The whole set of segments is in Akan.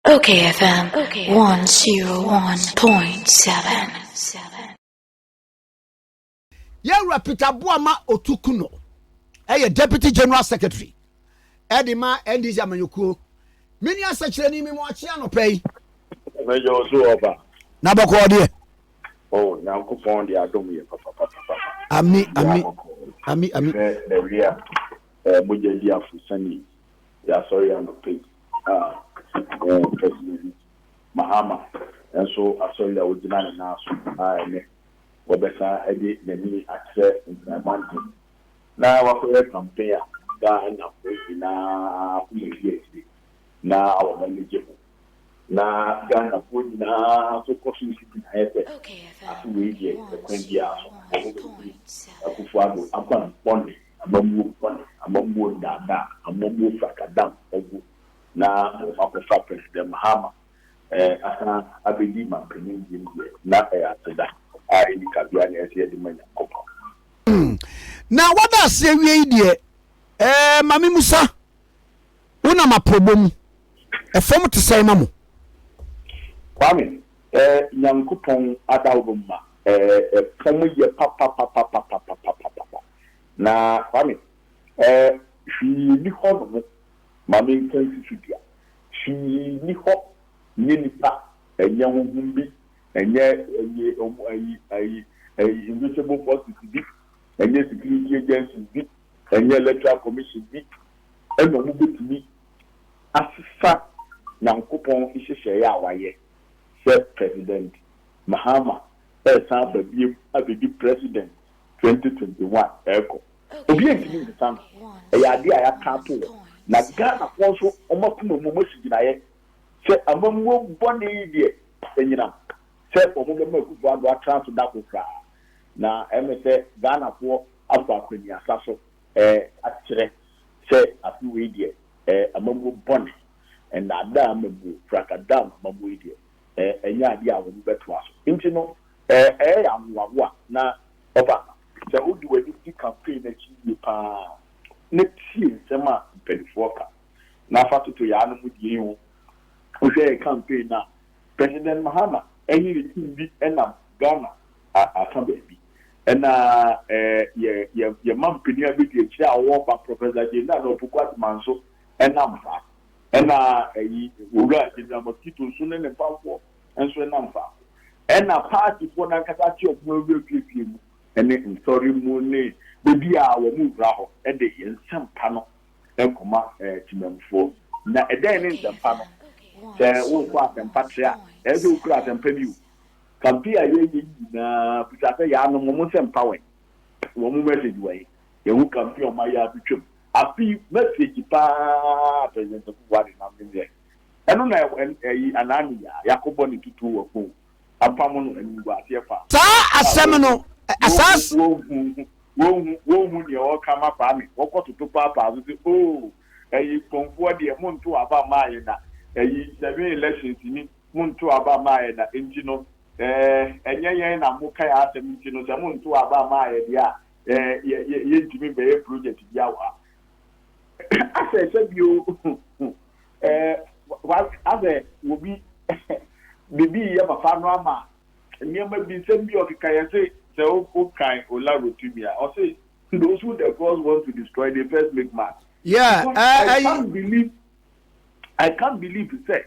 Okay FM 101.7 Yɛwura Peter Boama Otukuno ɛyɛ Deputy General Secretary ɛde ma NDC amanyɔkuo mene asɛkyerɛni me mu akye anɔpɛ yi mɛyɛ ɔso ɔba na bɔkɔɔ deɛ oh nyankopɔn de adom yɛ papapapapa ami ami ami ami ɛwia mogya di afo sani Yɛasɔre anɔpa yi a, ɛɛ President Mahama nso asɔre a ogyina ne nan so a ɛnnɛ ɔbɛsan de n'ani akyerɛ Nkran Mantam na wakɔyɛ campaign a Ghanafo nyinaa akoma redi akyire na wɔn ani gye ho na Ghanafo nyinaa nso kɔ so si gyinaeɛ sɛ afe wei deɛ ɛkwan biara so wɔbɛfiri Akufo-Addo akwan bɔne Amammuo bɔne, amammuo nnaadaa, amammuo frakadam agu na wɔn akɔfa President Mahama asan abɛdi manpanin biem deɛ, na ɛyɛ aseda a ɛnni kabea na ɛsɛ yɛde ma Nyankopɔn. Hmm. Na wada ase awie yi deɛ, eh, ma me musa, wonam aprɔbɔ mu, ɛfam te sɛn ma mo? Kwame, eh, Nyankopɔn ada wo ma, eh, ɛfam yɛ papapapapapapapapa. Na Kwame, eh, hwee nni hɔ nom ma menka nsi so dua. Hwee nni hɔ nyɛ nnipa, ɛnyɛ honhom bi, ɛnyɛ ɛyi, ɔmo, ɛyi, ɛyi, ɛyi, invisible forces bi, ɛnyɛ security agencies bi, ɛnyɛ electoral commission bi, ɛna ɔmo bɛtumi asesa Nyankopɔn nhyehyɛeɛ a wayɛ sɛ President Mahama resan aba biom abɛdi President Twenty twenty one ɛɛkɔ obiaa ntumi nsesa no ɛyɛ adeɛ a yɛaka ato hɔ na Ghana foɔ nso wɔn akoma mu wɔn asi gyinaeɛ sɛ amammuo bɔne yi deɛ anyinam sɛ wɔn bɛma Akuffo Addo atena ase da koro koraa na ɛmɛ sɛ Ghana foɔ afa akwaniasa so ɛɛ akyerɛ sɛ afe wei deɛ ɛɛ amammuo bɔne, nnaadaa amammuo, frakadaa amammuo yi deɛ ɛnyɛ adeɛ a wɔbɛtoa so. Nti no, ɛyɛ yɛ ahohoahoa. Na ɔba, sɛ wode w'ani di campaign no akyi yie pa ara na tie nsɛm a mpanimfoɔ ka, na fa toto yɛn anom deɛ yi ho, wohwɛ yɛn campaign no a, President Mahama ne ne team bi nam Ghana afa baabi, ɛna yɛn mampanin a bɛdi akyire a ɔwɔ ɔba, Professor Gyei Nana Opoku Agyemang nso nam saa. Ɛna ɛyi owura gyina mosquito so ne ne mpamfoɔ nso ɛnam faako. Ɛna paatifoɔ no ankasa agye wɔn ho awura fiefie mu ne nsɔre mu ne baabi a wɔn wura hɔ de yɛn nsɛmpa no kɔma temammufoɔ. Na ɛdɛn ne nsɛmpa no? Sɛ worekɔ asɛmpa trɛ a, ɛyɛ sɛ wokura asɛmpa bi o. Campaign a yɛyɛ yi nyinaa bisa sɛ yɛanom wɔn nsɛmpa wɛn? Wɔn message wɛn? Yɛwo kamfi ɔma yi abetwam. Afi message paa pɛsɛnsɛfo wɔ ade nam ne neɛ ɛno na ɛyi anaa ne yaa yakɔbɔ ne tutuo wɔ phone apam no animguaseɛ faa Saa asɛm no asaase. Wonhu wonhu wonhu neɛ ɔka ma Kwame wɔkɔ toto paapaa so sɛ oo ɛyi phonfoɔ deɛ monto aba mmaa yɛ da ɛyi seven elections ni monto aba mmaa yɛ da nti no ɛɛ ɛnyɛ yɛn na moka yɛ asɛm nti no sɛ monto aba mmaa yɛ deɛ a yɛntumi bɛyɛ project bia wɔ ha asɛ sɛ bio asɛ wɔbi bibi yɛ papa no ama nneɛma bi nsɛm bi ɔkeka yɛ se sɛ wokan ola rotimi a ɔse those who the gods want to destroy they first make man yeah, uh, I, can't believe, I can't believe sɛ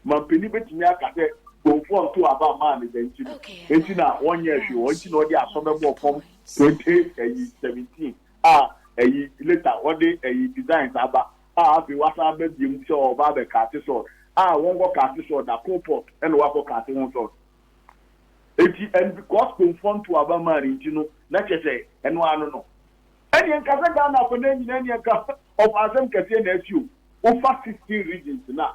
Mampanin bɛtumi aka sɛ Bonfoɔ ntoo aba mmaa no dɛn nti no nti na wɔnyɛɛ hwee wɔn nti na ɔde asɔ bɛbɔɔ fam 20 ayi 17 a ayi later ɔde ayi designs aba a afei wasan aba biom sɛ ɔɔba abɛ kate sɔɔt a wɔnkɔ kate sɔɔt da coal pot ɛna wakɔ kate ho sɔɔt eti and because Bonfoɔ ntoo aba mmaa no nti no na kyɛ sɛ ɛno ara no no ɛneɛ nka sɛ Ghana afɔ no nyinaa ɛneɛ nka ɔfa asɛm kɛseɛ na asi o wofa 16 regions no a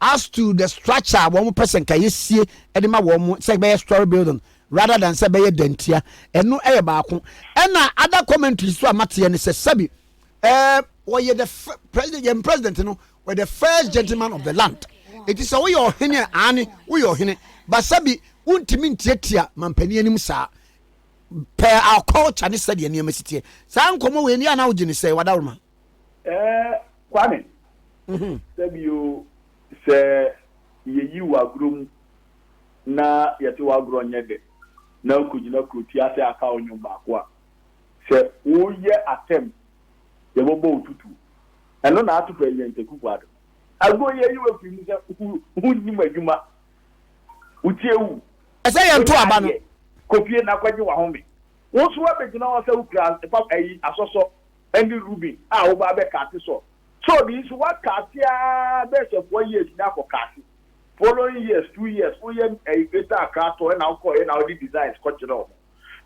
As to the structure a wɔn pɛ sɛ nka yɛsie de ma wɔn sɛ ɛbɛyɛ story building rather than sɛ ɛbɛyɛ dantia, ɛno yɛ baako. Ɛna other commentaries nso a mateɛ ne sɛ sɛbi ɛɛ wɔyɛ the president, yɛn president no wɔyɛ the first gentleman of the land. Eti sɛ woyɛ ɔhene a, aane woyɛ ɔhene, ba sɛbi wontumi ntiatia mampanin anim saa. Per our culture ne sɛdeɛ nneɛma si teɛ. Saa nkɔmmɔ wei ne a na wogye ne sɛ wadaworoma. Ɛɛ Kwame, mhm. sɛbio sɛ yɛyi wo agorɔ mu na yɛte w'agorɔ nyɛ dɛ na wokɔgyina kuroti ase aka wo nnwom baako a, sɛ woyɛ atɛm yɛbɛbɔ wo tutu. Ɛno na ato President Akufo Addo. Agorɔ yi ayi wo afiri mu sɛ wonnim adwuma. Wotie wu. Ɛsɛ yɛn to aba no. Kofie na kɔgye wahome. Wo nso wabɛgyina hɔ sɛ wokura ɛfa ayi asɔsɔ ne Ruben a wɔba abɛkaase sɔ sɔɔ bi nso wakaase aa bɛɛ sɛ four years na akɔ kaase following years two years wo yɛ ɛyi greater Accra tɔ ɛna wokɔ ɛna wode designs kɔ kyerɛ wɔn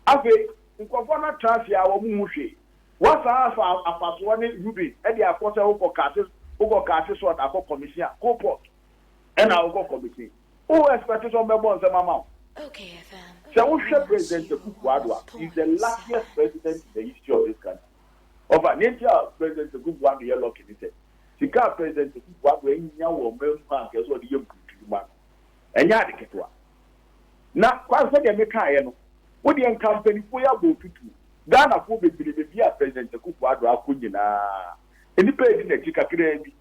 afei nkurɔfoɔ no atra ase aa wɔn hu hwee wasan afa afasoɔ ne Ruben ɛde akɔ sɛ wokɔ kaase wokɔ kaase sɔt akɔ commission a coal port ɛna wokɔ commission. Wo expect sɛ ɔmbɛbɔ nsɛm ama wo? Sɛ wo hwɛ President Akufo Addo a, he is the luckiest president in the history of this country. Ɔfa, nea nti a President Akufo Addo yɛ lucky ne sɛ, sika a President Akufo Addo anya wɔ ɔman mu a anka ɛsɛ sɛ ɔde yɛ mpuntuwuma no, ɛnyɛ ade ketewa. Na Kwame, sɛdeɛ me kaeɛ no, wo deɛ nka mpaninfoɔ yi abɔ wo tutuo. Ghanafoɔ bebree baabi a President Akufo Addo akɔ nyinaa, nnipa redi n'akyi kakraa bi.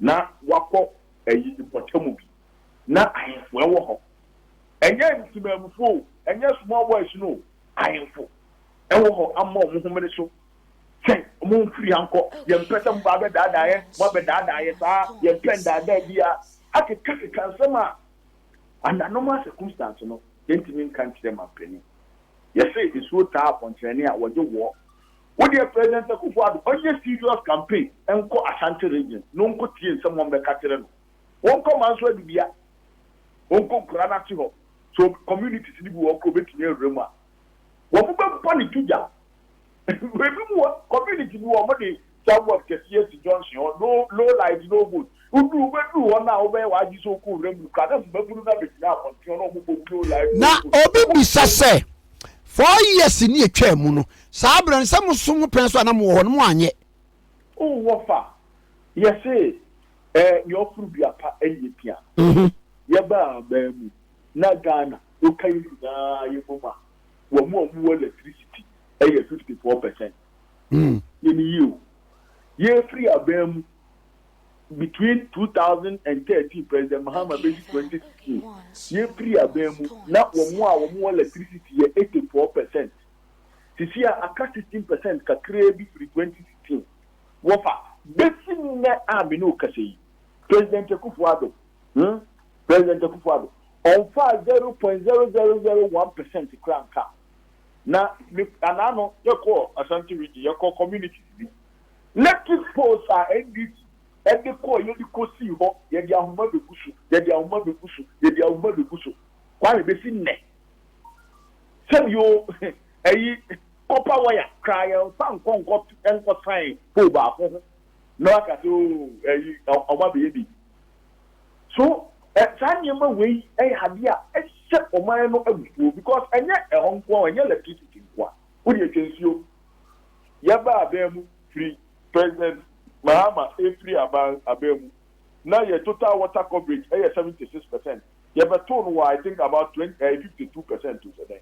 na wɔakɔ ayi mpɔtam bi. Ná ahemfo wɔ hɔ. Ɛnyɛ ntemamufo o, ɛnyɛ small boys no o, ahemfo wɔ hɔ ama wɔn homene so sɛ, Momfiri ha nkɔ, yɛmpɛ sɛ moba abɛdaadaa yɛn, moabɛdaadaa yɛn saa, yɛmpɛ nnaadaa biara. Akekakeka nsɛm a under normal circumstance no, yɛntumi nka nkyerɛ manpanin. Yɛse nsuo taa akɔnkyerɛnne a, wɔgye woɔ. Wo deɛ President Akuffo Addo ɔnyɛ serious campaign nkɔ Ashanti region na ɔnkɔ tie nsɛm wɔn bɛka akyerɛ no. Wɔnkɔ Manso Adubia, ɔnkɔ nkuraa no ase hɔ, sɛ communities no bi wɔ hɔ koraa ɔbɛtumi awura mu a, wɔn bɛbɔ no to dwa. Ebinom wɔ community bi wɔ hɔ wɔde sidewalk kɛseɛ asi junction hɔ, no no light, no vote. Wodu wobɛduru hɔ no a wobɛyɛ w'adwene sɛ wokɔ wura mu no koraa na mmabunu no abɛgyina abɔnten hɔ na wɔn bɔ blow live Na radio so obi bisa sɛ, four years ne ɛtwaa mu no, saa berɛ no sɛ mo nso mo pɛn so a na mowɔ hɔ no moanyɛ? Oh wɔfa yɛse eh, nea ɔforo dua pa nyɛ pia no Yɛbaa aman mu na Ghana woka yɛn nyinaa yɛ bom a wɔn a wɔn wɔ electricity yɛ fifty four percent Yɛn ni yie o Yɛfiri aban mu between two thousand and thirteen President Mahama bɛsi twenty sixteen yɛfiri aban mu na wɔn a wɔn wɔ electricity yɛ eighty four percent sisi a aka sixteen percent kakraa bi firi twenty sixteen wɔfa bɛsi nnɛ a me ne wo kasa yi President Akufo Addo hmm President Akufo Addo ɔmfaa zero point zero zero zero one percent koraa nka na me anaa no yɛkɔ Asante region yɛkɔ communities bi Electric poles a NDC de kɔɔ yɛde kosii hɔ, yɛde ahoma begu so, yɛde ahoma begu so, yɛde ahoma begu so, Kwame, besi nnɛ. Sɛbi o, ɛyi copper wire koraa yɛnfa nkɔ nkɔ nkɔ sign pole baako ho na waka sɛ o ɛyi wɔn abɛyɛ bi. So saa nneɛma wei yɛ adeɛ a ɛhyɛ ɔman no abufuo because ɛnyɛ ɛhɔ nko ara, ɛnyɛ electricity nko ara, wode atwa nsuo, Yɛba aban mu firi President Mahama ɛfiri aban aban mu na yɛ total water coverage ɛyɛ 76 percent yɛbɛtoo no wɔ I think about 20 ɛɛ 52 percent o sɛ dɛn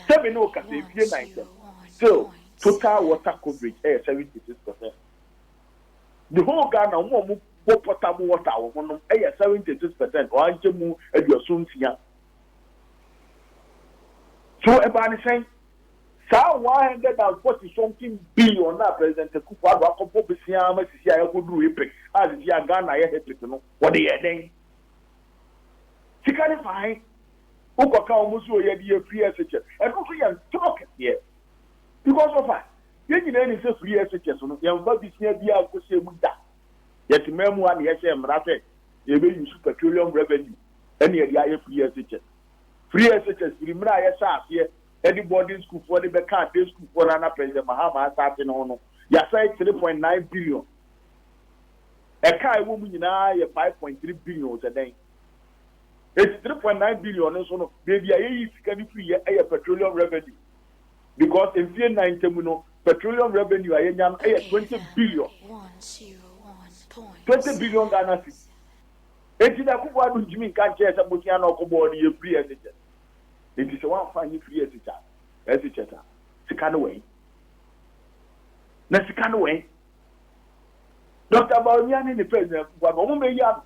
sɛ me ne wo kasa ɛfie nan sɛm still total water coverage ɛyɛ 76 percent the whole Ghana wɔn a wɔn bɔ potable water wɔ ho nom ɛyɛ 76 percent wɔn ankyɛ mu aduaso nsia so ɛbaa ne sɛn Saa one hundred and forty something billion a President Akuffo Addo akɔbɔ bosea ma sisi a yɛakɔduru April a sisi a Ghana yɛ hectic no, wɔde yɛɛ dɛn? Sika no faa he? Wokɔka wɔn se o yɛde yɛ free SHS. Ɛno nso yɛ ntorɔ kɛseɛ. Because of a, yɛn nyinaa nim sɛ free SHS no, yɛmfa bosea biara nkɔhyɛ mu da. Yɛtemaa mu a na yɛhyɛɛ mmara sɛ yɛbɛ use petroleum revenue na yɛde ayɛ free SHS. Firi SHS firi mmerɛ a yɛhyɛɛ aseɛ de boarding sukuufoɔ de bɛkaa day sukuufoɔ no anapɛ yɛ Mahama asaase no ho no, yɛasɛe three point nine billion. Ɛka a ɛwɔ mu nyina ara yɛ five point three billion sɛ dɛn? Enti three point nine billion no nso no, baabi a yɛyii sika no firi yɛ yɛ petroleum revenue because mfeɛ nnan ntam no, petroleum revenue a yɛnya no yɛ twenty billion, twenty billion Ghana cedi. Enti na Akuffo Addo ntumi nka nkyerɛ sɛ bosea na ɔkɔbɔɔ no yɛ free SHS. Enti sɛ wamfa anyi free SHS a, sika no wɛn? Na sika no wɛn? Doctor Bawumia ne ne pɛ nyinaa Akuffo Addo, wɔn bɛyi ano.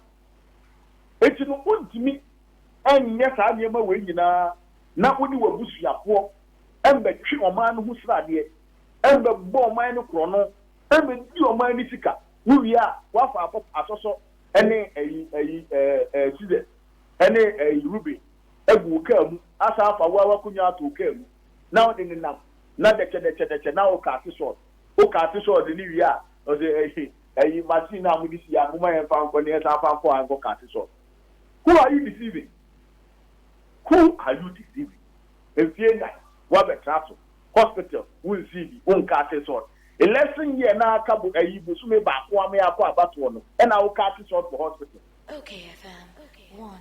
Enti no wontumi nyɛ saa nneɛma wei nyinaa na wone w'abusuafoɔ mmɛtwe ɔman no ho sradeɛ, mmɛbɔ ɔman no korɔno, mmɛdi ɔman no sika, wowie a woafa akɔ asɔsɔ ne ɛyi, ɛyi, ɛɛ, ɛɛ, Sizer, ne ɛyi, Ruben, agu wo kaa mu, asan afa wo ara w'akonwa ato wo kaa mu, na ɔde ne nam, na dɛkyɛ, dɛkyɛ, dɛkyɛ, na ɔkaate sɔɔd, ɔkaate sɔɔd ne wie a, ɔsɛ, ɛyi, ɛyi, machine no a mode si a, momma yɛmfa nkɔ na yɛsan fa nkɔ a nkɔ kaate sɔɔd. Who are you deceiving? Who are you deceiving? Mfie nnan, woabɛtra so. hospital wo nsii bi wo nka ase salt election year na aka bo ayi bosome baako a me akɔ abatoɔ no ɛna wo ka ase salt wɔ hospital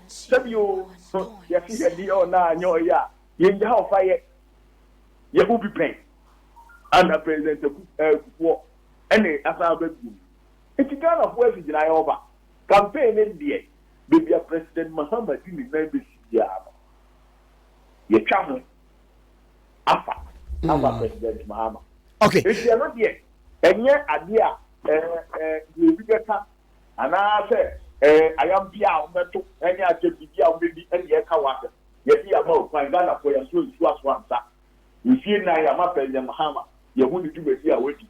sɛ bi oo ho yɛ se yɛ deɛ ɔna anyɛ ɔyɛ a yɛ ngya hɔ fa yɛ yɛ ho bi pɛn ana president aku akufoɔ ɛne asan aba bio nti Ghana foɔ asi gyina yɛ ɔba campaign ne deɛ baabi a president Mahama di ne nan bɛsi biara no yɛ twa ho. afa afa hmm. president mahama okay nti ɛno deɛ ɛnyɛ adeɛ a ɛɛ ɛɛ deɛ obi bɛka anaasɛ ɛɛ ayampi a wɔbɛto ɛne akyɛ biribi a wɔbɛdi ɛne ɛka wɔ asɛm yɛde ama okwan ghana fo yɛso nsu aso ansa mfie nan yɛama president mahama yɛho ne dwumadi a wadi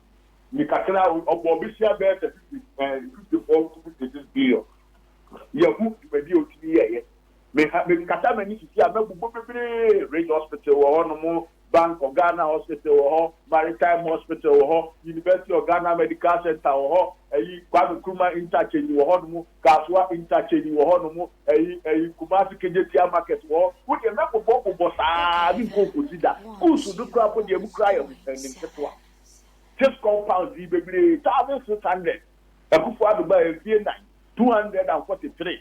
ne kakra ɔbɔ ɔbɛhyia bɛyɛ sɛ fifty ɛɛ fifty four to fifty six billion yɛho dwumadi a otumi yɛɛyɛ Me ha me kata m'ani sisi a mabu bɔ bebree Ridge hospital wɔ hɔ nom Bank of Ghana hospital wɔ hɔ Maritime hospital wɔ hɔ University of Ghana medical center wɔ hɔ ɛyi Kwame Nkrumah interchange wɔ hɔ nom Kasoa interchange wɔ hɔ nom ɛyi ɛyi Kumasi Kejetia market wɔ hɔ wo deɛ mɛ bobɔ bobɔ saa me nkɔ nkosi da Kusu no kura po deɛ mu kura yɛ mo pɛ nim ketewa This compound yi bebree thousand six hundred Akufo Addo baa yɛ mfie nan two hundred and forty three.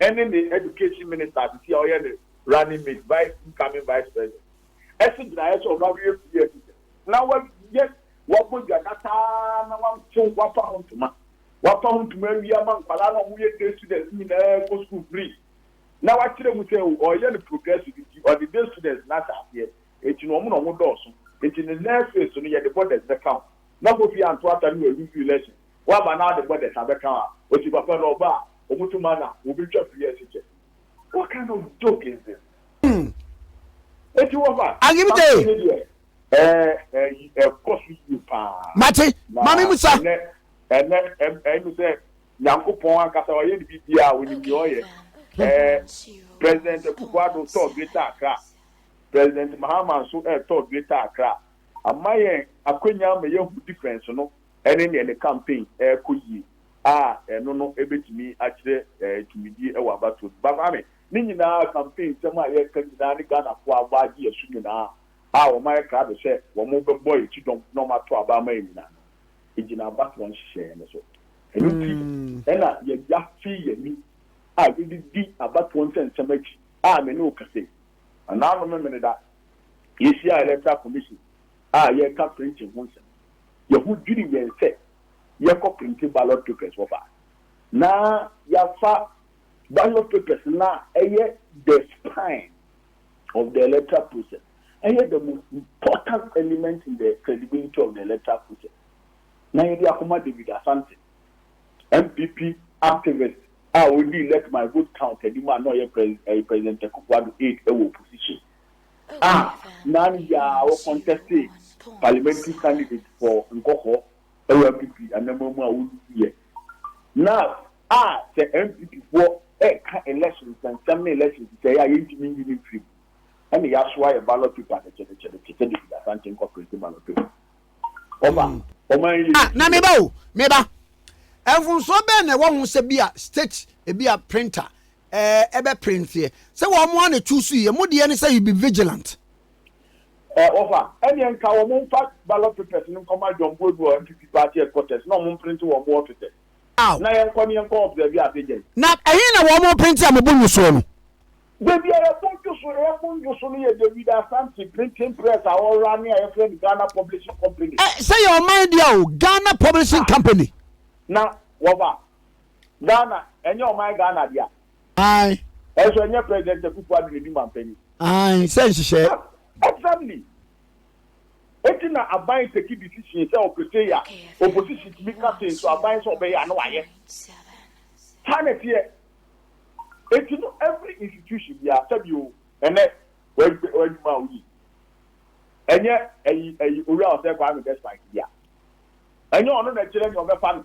ɛne ne Education Minister sisi a ɔyɛ ne Running Mate, Vice, Incoming Vice President, asi gyinaeɛ sɛ ɔno abɛyɛ fie anisɛ na wayɛ wabɔ dwa dasa ara na watew wafa ho ntoma wafa ho ntoma awie ama nkwadaa no a wɔyɛ day students nyinaa kɔ sukuu free na wakyerɛ mu sɛ ɔyɛ no progressive nti ɔde day students no ahyɛ aseɛ nti na wɔn na wɔn dɔɔso nti ne nurseries no yɛde borders bɛka ho na kofi anto ata no aluzu election Wɔaba na wɔde bɔdɛs abɛka a, ɔti papa no ɔba a, wɔtu ma na wɔbɛtwa firi ase kyɛ. What kind of joke is this? Enti wɔfa Samson no deɛ, ɛɛ, ɛyi, ɛkɔ so yie paa. Mate, ma me musa. Na ɛnɛ, ɛnɛ, ɛyi mi sɛ, Nyankopɔn ankasa ɔyɛ ne biribiara, ɔnim deɛ ɔyɛ. Ɛɛ, President Akufo Addo tɔɔ Greater Accra, President Mahama nso ɛɛtɔɔ Greater Accra, ama yɛn akwanya ama yɛahu difference no. ne nea ne kampen rekɔ yie a, ɛno no bɛtumi akyerɛ tumidie wɔ abatoɔ no. Baba me, ne nyinaa kampen nsɛm a yɛreka nyinaa ne Ghanafoɔ a wɔagye yɛn so nyinaa a wɔayɛ krado sɛ wɔbɛbɔ yɛn akyi dɔm na wɔato aba ama yɛn nyinaa no gyina abatoɔ nhyehyɛeɛ no so. Ɛno nti na yɛagya fii yɛn ani a yɛde di abatoɔ nsɛnsɛm akyi a me ne wo kasa yi. Anaa no Memeneda, yɛhyiaa Electoral Commission a yɛreka printing ho nsɛm. yɛn ho dwiriw yɛn sɛ yɛkɔ printe ballot papers wɔ fa na yɛafa ballot papers no a ɛyɛ the spine of the electoral process, ɛyɛ the most important element in the credibility of the electoral process, na yɛde akɔma David Asante, NPP activist a odii Let My Vote Count anim a na ɔyɛ Pres ɛyɛ President Akufo-Addo aide wɔ opposition. a na ne yɛ ara wɔ kɔntɛste parliamentary candidate for Nkɔkɔ wɔ NPP anamma mu a wonlusu yɛ na a sɛ NPP foɔ ɛka election nsɛnsɛm ne election sisɛɛ a yɛntumi nyi ne mfiri mu ɛne yɛaso ayɛ ballot paper dɛkyɛdɛkyɛdɛ te sɛ David Asante Nkɔprɛse ballot paper ɔba hmm. ɔman yɛ ah, na meba o meba mfomsoɔ bɛn na ɛwɔ ho sɛ bi a state ebi a printer ɛɛ bɛ printeɛ sɛ wɔn mo ana tu su yɛ mo deɛ ne sɛ you be vigilant. Ɛɛ ɔfa ɛneɛ nka wɔn nfa ballot papers no nkɔ ma John Boadu wɔ NPP party headquarters na wɔn mprinte wɔn mo offices na yɛn kɔ ne yɛn kɔ observe ade gyɛn. Na ɛhe na wɔn printe a mo bo nwo soɔ no. Baabi a yɛ bo dwo so yɛ bo nwo so no yɛ David Asante printing press a ɔ runne a yɛ frɛ no Ghana Publishing Company. Ɛɛ sɛ yɛ ɔman deɛ o Ghana Publishing Company. Na wɔfa Ghana ɛnyɛ ɔman Ghana dea. Ae. Ɛnso ɛnyɛ President Akuffo Addo na edi manpanyin. Ae, sɛ nhyehyɛɛ. Ab, exactly. Enti na aban take decision sɛ ɔpetee ya, opposition tumi ka se nso aban sɛ ɔbɛyɛ a na wayɛ. Saa na ɛteɛ. Enti no every institution biara, sɛbi o, ɛnɛ w'adw, w'adwuma a woyi, ɛnyɛ ɛyi, ɛyi Owura Osei Kwame Despite dea. Ɛnyɛ ɔno na ɛkyerɛ nea ɔbɛfa no.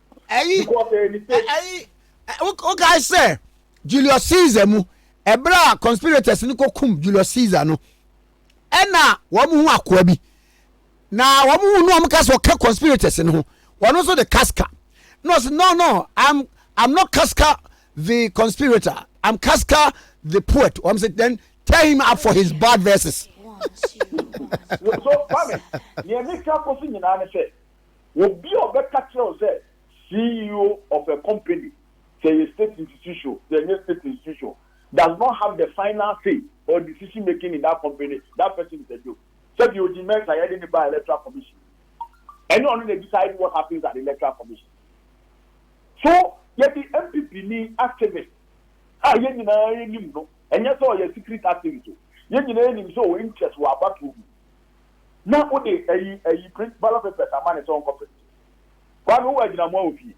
Ɛyi ɛyi wokae sɛ Julius Caesar mu ɛberɛ a conspirators no kɔkum Julius Caesar no ɛna wɔn ho akoa bi na wɔn ho no wɔn ka sɛ ɔka conspirators no ho wɔn nso de Casca no sɛ no no I'm I'm not Casca the conspirator I'm Casca the poet wɔn sɛ then tear him up for his bad verses. so mami nea mi ka kɔ so nyinaa ne sɛ Obi a ɔbɛka kyerɛ wo sɛ CEO of a company, sɛ ɛyɛ state institution o, sɛ ɛnyɛ state institution o, does not have the final say or decision making in that company, that person is a joke. Sɛdeɛ Odi Mensah yɛde no baa Electoral Commission no, ɛnyɛ ɔno na decide what happens at the Electoral Commission. So yɛde NPP ni activist a yɛn nyinaa yɛnim no, ɛnyɛ sɛ ɔyɛ secret activist o, yɛn nyinaa yɛnim sɛ ɔwɔ interest wɔ abatoɔ mu. na wode ayi ayi print ballot papers ama no sɛ ɔnkɔ print. Kwame wowɔ agyinamoa wɔ fie?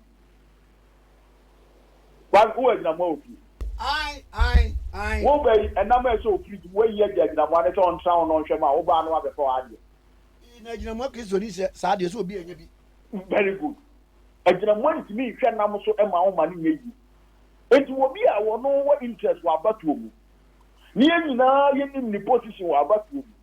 Kwame wowɔ agyinamoa wɔ fie? Ae ae ae. Wo ba yi ɛnam a ɛsɛ wɔ fridge mu woayi agye agyinamoa ne sɛ ɔntra ho na ɔnhwɛ mu a wo baa no abɛfa w'adeɛ. Ii na agyinamoa Kristoni sɛ saa deɛ ɛsɛ obi a ɛnyɛ bi. Very good. Agyinamoa ntumi nhwɛ nam so ɛma wo ma no nyɛ yie. Enti wɔ bi a wɔno wɔ interest wɔ abatoɔ mu. Ne yɛn nyinaa yɛnim ne position wɔ abatoɔ mu.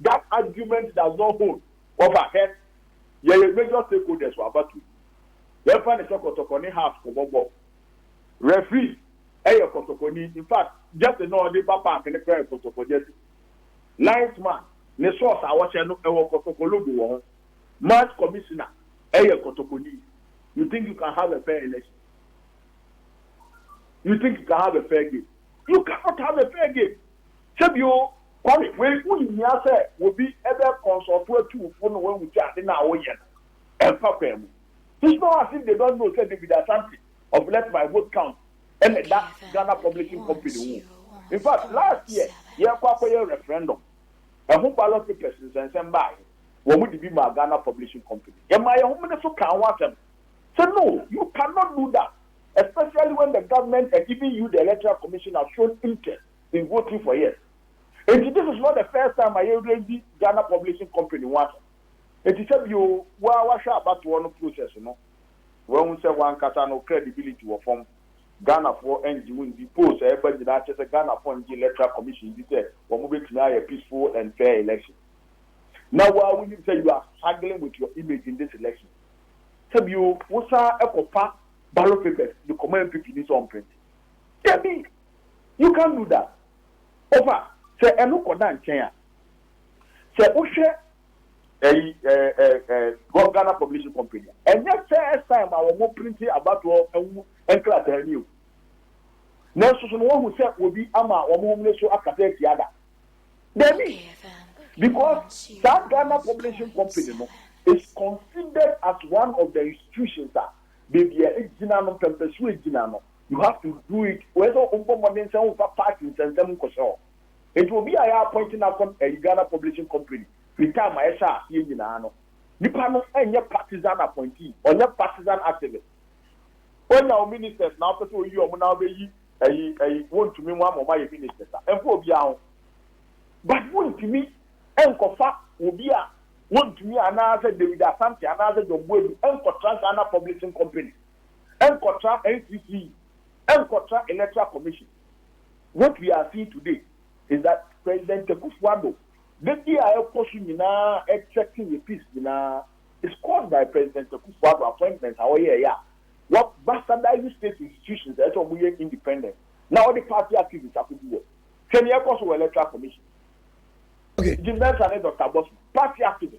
That argument does not hold. Wɔfa hɛ. Yɛyɛ major stakeholders wɔ abatoɔ yi. Yɛmfa no sɛ kɔtɔkɔ ne Hearts kɔbɔ bɔɔl. Referee yɛ kɔtɔkɔni. In fact, jersey no a ɔde ba park no koraa yɛ kɔtɔkɔ jersey. Linesman, ne socks a ɔhyɛ no, ɛwɔ kɔtɔkɔ logo wɔ ho. Match commissioner yɛ kɔtɔkɔni. You think you can have a fair election? You think you can have a fair game? You cannot have a fair game. Sɛ bi o, Kwame, wei wo nhia sɛ wobi bɛ consult atu wo fo na wahu sɛ ade no a wo yɛ no ɛmfa kwan mu. It's not as if they don't know sɛ David Asante of Let My Vote Count na ɛda Ghana Publishing Company ho. In fact last year yɛrekɔ akɔyɛ referendum, ɛho ballot papers nsɛnsɛm baeɛ, wɔn de bi maa Ghana Publishing Company. Yɛmaa yɛn homene so kaa ho asɛm sɛ no, you cannot do that especially when the government and even you the Electoral Commission have shown interest. in voting for yes enti this is not the first time a yɛ raise Ghana publishing company ho asɛm enti sɛ bi oo wo a wahwɛ abatoɔ no process no wahu sɛ wankasa no credibility wɔ fam Ghanafoɔ ngye wo ndi polls a ɛba nyinaa kyerɛ sɛ Ghanafoɔ ngye electoral commission ndi sɛ wɔn bɛtumi ayɛ peaceful and fair election na wo a wonim sɛ you are struggling with your image in this election sɛ bi oo wo san kɔfa ballot papers de kɔma MPP ni sɛ ɔmprinte dabi You can't do that. Ɔfa, sɛ ɛno kɔda nkyɛn a, sɛ wohwɛ ɛyi ɛɛ ɛɛ ɛɛ Ghana Publishing Company a, ɛnyɛ first time a wɔn printi abatoɔ ho nkrataa ni o. Nanso so no wɔahu sɛ obi ama wɔn homene so akata atia da? Dabi! Because saa Ghana Publishing Company no is considered as one of the institutions a baabi a egyina no, mpɛmpɛsoɔ a egyina no, you have to do it wei sɛ wobɔ mmɔden sɛ womfa party nsɛnsɛm nkɔhyɛ hɔ nti obi a yɛ appoint no akɔ ɛyi Ghana publishing company firi time a yɛhyɛ aseɛ nyinaa no nipa no ɛnyɛ partisan appointee ɔnyɛ partisan activist woanya wo ministers na wopɛ sɛ oyi ɔmo na wobɛyi ɛyi ɛyi wontumi mu ama ɔmo ayɛ ministers a ɛmfa obiara ho but wontumi ɛnkɔfa obi a wontumi anaasɛ David Asante anaasɛ John Boadu ɛnkɔtra Ghana publishing company nkɔtra NCC nkɔtra electoral commission what we are seeing today is that president Akufo Addo dadi a ɛkɔ so nyinaa ɛthreaten yɛ peace nyinaa is caused by president Akufo Addo appointment a ɔyɛ ɛyɛ a wa bastardize state institutions a ɛsɛ wɔn yɛ independent na ɔde party activists akogu hɔ hwɛ nea ɛkɔ so wɔ electoral commission Jim Mensah ne Dr. Bosman party activists.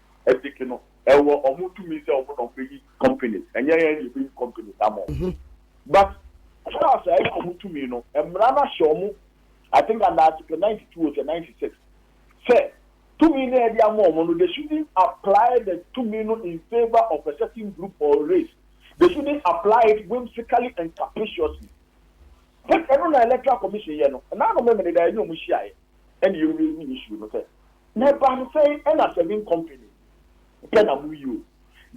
Ethic no ɛwɔ ɔmo tumi sɛ ɔmo na ɔmo bɛyi companies ɛnyɛ yɛn na yɛbɛyi companies ama ɔmo but SARS a ɛyɛ ɔmo tumi no mmara no ahyɛ ɔmo I think under article ninety two or sɛ ninety six sɛ tumi no a yɛde ama ɔmo no they shouldn't apply the tumi no in favour of a certain group or race they shouldn't apply it whimsically and capriciously but ɛno na electoral commission yɛ no ɛna ano memene da yɛne ɔmo hyiaeɛ. ɛna yɛwie ne issue no sɛ na ɛbaa no sɛn ɛna serving company pɛ na moyi o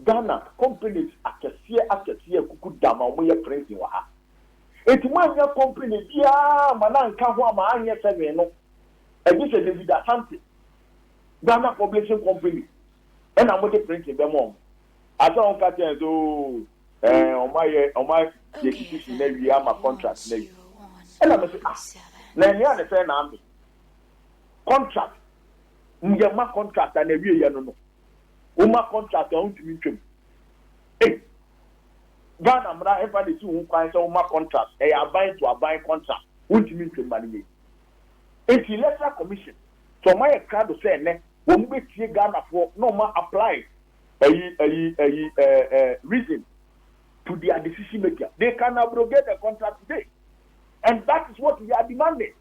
Ghana companies akɛseɛ akɛseɛ akuku dam a wɔyɛ printing wɔ ha enti moannya company biara ma no anka ho ama anyɛ serving no ɛgye sɛ David Asante Ghana Publishing Company ɛna mode printing bɛma wɔn. Asa wɔn ka kyɛn so ɛɛ wɔn ayɛ wɔn ayɛ decision na wie ama contract na wie. Ɛna mi sɛ ah na ɛnea ne sɛ na ame contract mu yɛ ma contract na wie yɛ no no wɔn ma contract a wɔn ntumi ntwam. Ee Ghana mmara ɛfa na esi ho kwan sɛ wɔn ma contract ɛyɛ aban to aban contract wɔn ntumi ntwam ma ne yɛ. Eti electoral commission sɛ wɔn ayɛ krado sɛ ɛnɛ wɔn bɛ tie Ghanafoɔ na wɔn apply Eyi eyi eyi eh eh reason to dia decision maker they can abrogate the contract today and that is what we are demanding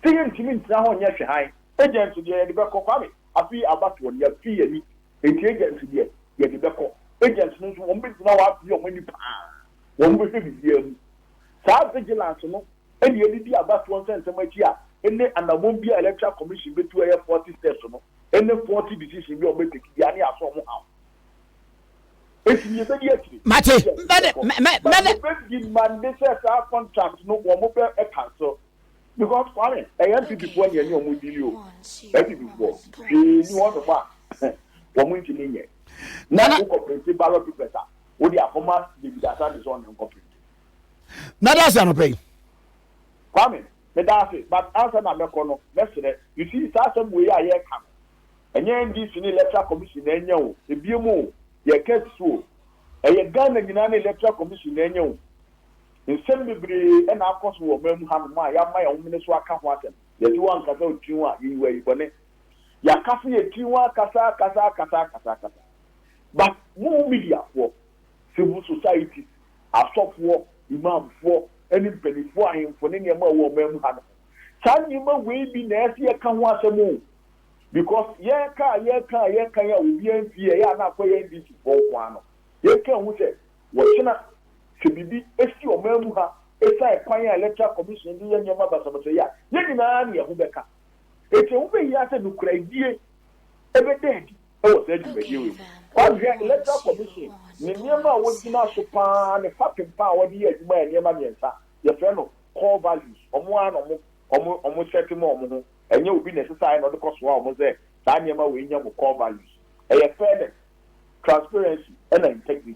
sɛ yɛn ntumi ntena hɔ nyɛ hwehan agent deɛ yɛde bɛkɔ kwame afei abatoɔ no yɛafi yɛn ani enti agent deɛ yɛde bɛkɔ agent no nso wɔn bɛgyina hɔ abie wɔn ani paa wɔn bɛhwɛ biribiara mu saa vigilance no ɛne yɛde di abatoɔ nsɛnsɛm akyi a ɛne anammɔn bi a electoral commission bɛtu ɛyɛ 40 steps no Any faulty decision bi a ɔbɛ take bia ne asɔ ɔmo haw. Eti yɛ bɛdi akyire. Mate, mɛde, mɛ, mɛde. Ɔbɛ demande sɛ saa contract no ɔmo bɛ cancel. Because Kwame, ɛyɛ NPP foɔ na yɛne ɔmo deal o. NPP foɔ, hwee ni hɔ nom a ɔmo ntumi nyɛ. Na wo kɔ printe ballot papers a, wo de akɔ ma David Asante sɛ ɔne nkɔ printe. Mɛde ase anɔpa yi. Kwame. Meda ase, but ansa na mɛkɔ no, mɛsrɛ. You see, saa asɛm wei a yɛreka no, ɛnyɛ NDC ne Electoral Commission na anya o, ebiem o, yɛreka asi so o. Ɛyɛ Ghana nyinaa ne Electoral Commission na anya o. Nsɛm bebree na akɔ so wɔ ɔman mu hanom a yɛama yɛn ho mene so aka ho asɛm. Yɛse woankasa wo tiri ho a, yɛyi wo ayi bɔne. Yɛaka so yɛn tiri ho akasa, akasa, akasa, akasa, akasa. But mo media foɔ, civil societies, asɔfoɔ, Imamfoɔ, ne mpanimfoɔ ahemfo ne nneɛma a ɛwɔ ɔman mu ha no ho. Saa nneɛma wei bi na ɛyɛ sɛ yɛka ho asɛm o, because yɛka a yɛka a yɛka yi a obiara mfi yɛ, ɛyɛ a na akɔyɛ NDC foɔ nko ara no. Yɛka hu sɛ wɔkyena sɛ biribi si ɔman mu ha ɛsiane kwan a Electoral Commission de yɛ nneɛma basabasa yi a, yɛn nyinaa na yɛn ho bɛka. Enti ɛho bɛhia sɛ nokorɛdie bɛda adi. wɔ saa dwumadie wei mu. Woahwɛ Electoral Commission ne nneɛma a wɔgyina so pa ara ne fapem pa ara a wɔde yɛ adwuma yɛ nneɛma mmiɛnsa, yɛfrɛ no Core Values, wɔn ara na wɔn wɔn wɔn sɛte ma wɔn ho, ɛnyɛ obi na ɛsɛ sɛ ayɛ na ɔde kɔ soa wɔn sɛ saa nneɛma wei nyɛ mo Core Values. Ɛyɛ Fairness, Transparency ɛna Integrity.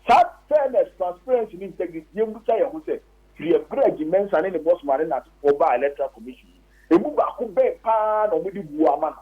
Saa Fairness, Transparency ne Integrity, yɛmmisa yɛn ho sɛ, firi ɛberɛ a Jim Mensah ne ne Bosman ne n'asefoɔ baa Electoral Commission mu, ɛmu baako bɛn pa ara na wɔde buo ama no?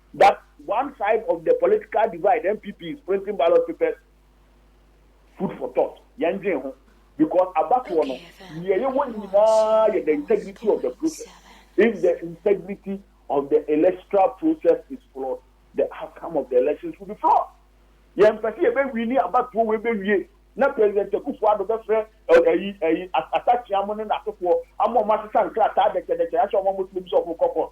that one side of the political divide NPP is printing ballot papers food for thought yɛn dwen ho because abatoɔ no nea yɛwɔ nyinaa yɛ the integrity of the process if the integrity of the electoral process is flawed the outcome of the elections will be flawed yɛn mpɛ sɛ yɛbɛwi ne abatoɔ wei bɛwie na president akufo ado bɛfrɛ ɛyi ɛyi asakyea mo ne n'asefoɔ ama ɔmo asesa nkrataa dɛkyɛdɛkyɛ ahyɛ ɔmo amotuo bi sɛ ɔmo kɔ court.